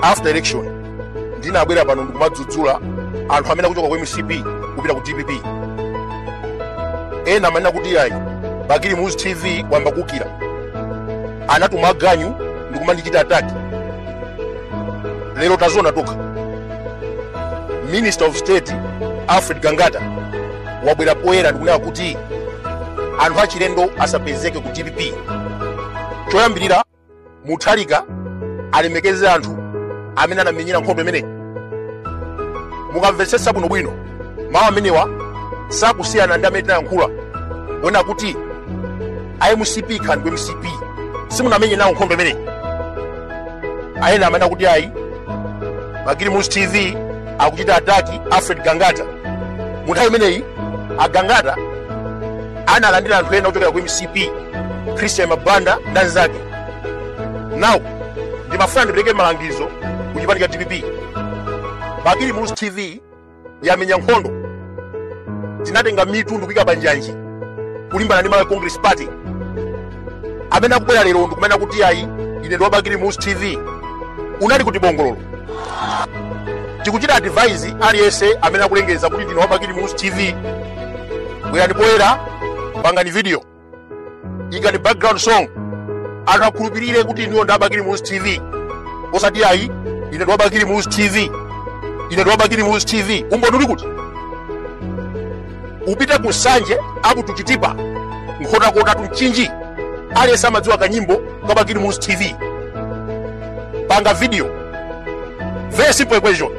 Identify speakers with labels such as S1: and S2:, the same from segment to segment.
S1: after election ndinabwera pano ndikumadzudzula anthu amene akuchoka ku mcp kupita ku dpp ena amanena kuti ayi bakili muluzi tv wayamba kukira anatuma aganyu ndikumandichita attack lero taziona tokha minister of state alfred gangata wabwera poyera ndikunena kuti anthu achilendo asapezeke ku dpp choyambirira mutharika alemekeze anthu amene anamenyera nkhondo imeneyi mukamvetsetsa bwinobwino mawu amenewa sakusiyana ndi amene tinayankhula kunena kuti a mcp khandwe mcp simunamenye nawo nkhondo imeneyi ena amanena kuti ayi bakili muluzi tv akuchita attack alfred gangata mu nthawi imeneyi agangata analandira anthu ena ochokera ku mcp christian mabanda ndi anzake nawo ndimafuna ndipereke malangizo ku chipani cha dpp bakili muluzi tv yamenya nkhondo tinatenga mitu ndikuyika panjanji kulimbana ndi malawi congress party amene akubwera lero ndikumanena kuti ayi ine ndi wabakili muluzi tv unali kuti bongololo tikuchita advise aliyense amene akulengeza kuti ndine wabakili muluzi tv bwerani poyera pangani video ikani background song anthu akhulupirire kuti ndiwo ndi abakili muluzi tv osati ayi ine ndi wabakili muluzi tv ine ndi wabakili muluzi tv umboni uli kuti upite ku nsanje to chitipa nkhotakota to mchinji aliyense amadziwa kanyimbo ka bakili muluzi tv panga video very simple equation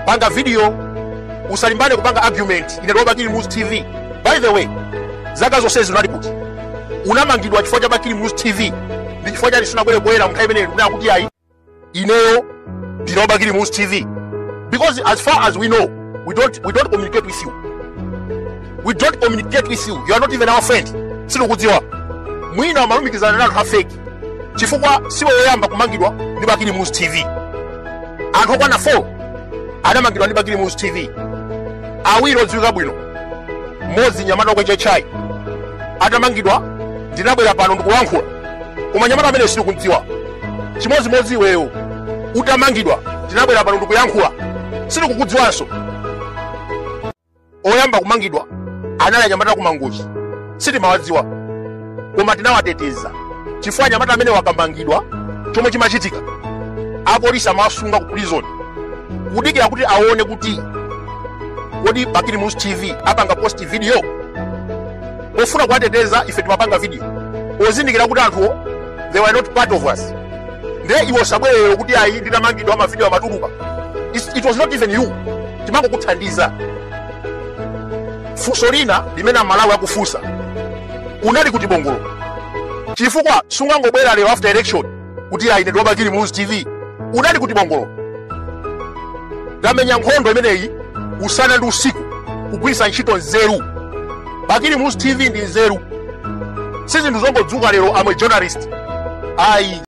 S1: panga video usalimbane kupanga argument ine ndi wa bakili muluzi tv by the way zaka zonse unali kuti unamangidwa chifukwa cha bakili muluzi tv ndi chifukwa chani sunabwere poyera munthawi imeneyi kunena kuti ayi ineyo ndine wabakili muluzi tv because as far as we know we don't, we don't communicate with you we don't communicate with you you are not even our friend sitikudziwa mwina amalumikizana ndi anthu afeki chifukwa siwe woyamba kumangidwa ndi bakili muluzi tv anthu okwana 4 anamangidwa ndi bakili muluzi tv awiri odziwika bwino mmodzi mnyamata okwecha chai atamangidwa ndinabwera pano ndikulankhula koma mnyamata ameneyo sitikumdziwa chimodzimodzi iweyo utamangidwa tinabwera pano ndikuyankhula sitikukudziwanso oyamba kumangidwa anali anyamata aku mangochi sitimawadziwa koma tinawateteza chifukwa anyamata amenewa akamangidwa chomwe chimachitika apolisi amawasunga ku prison kudikira kuti aone kuti kodi bakili muluzi tv apanga post video pofuna kuwateteza ife timapanga video ozindikira kuti anthuwo they were not part of us nde iwe usabwere lero kuti ayi ndinamangidwa mavidiyo amatuluka It's- it was not even you timangokuthandiza funso lina limene amalawi akufunsa unali kuti bongolo chifukwa sungangobwera lero after election kuti ayi ndine wa bakili muluzi tv unali kuti bongolo tamenya nkhondo imeneyi usana ndi usiku kugwiritsa ntchito nzeru bakili muluzi tv ndi nzeru si zinthu zongodzuka lero amwe journalist ayi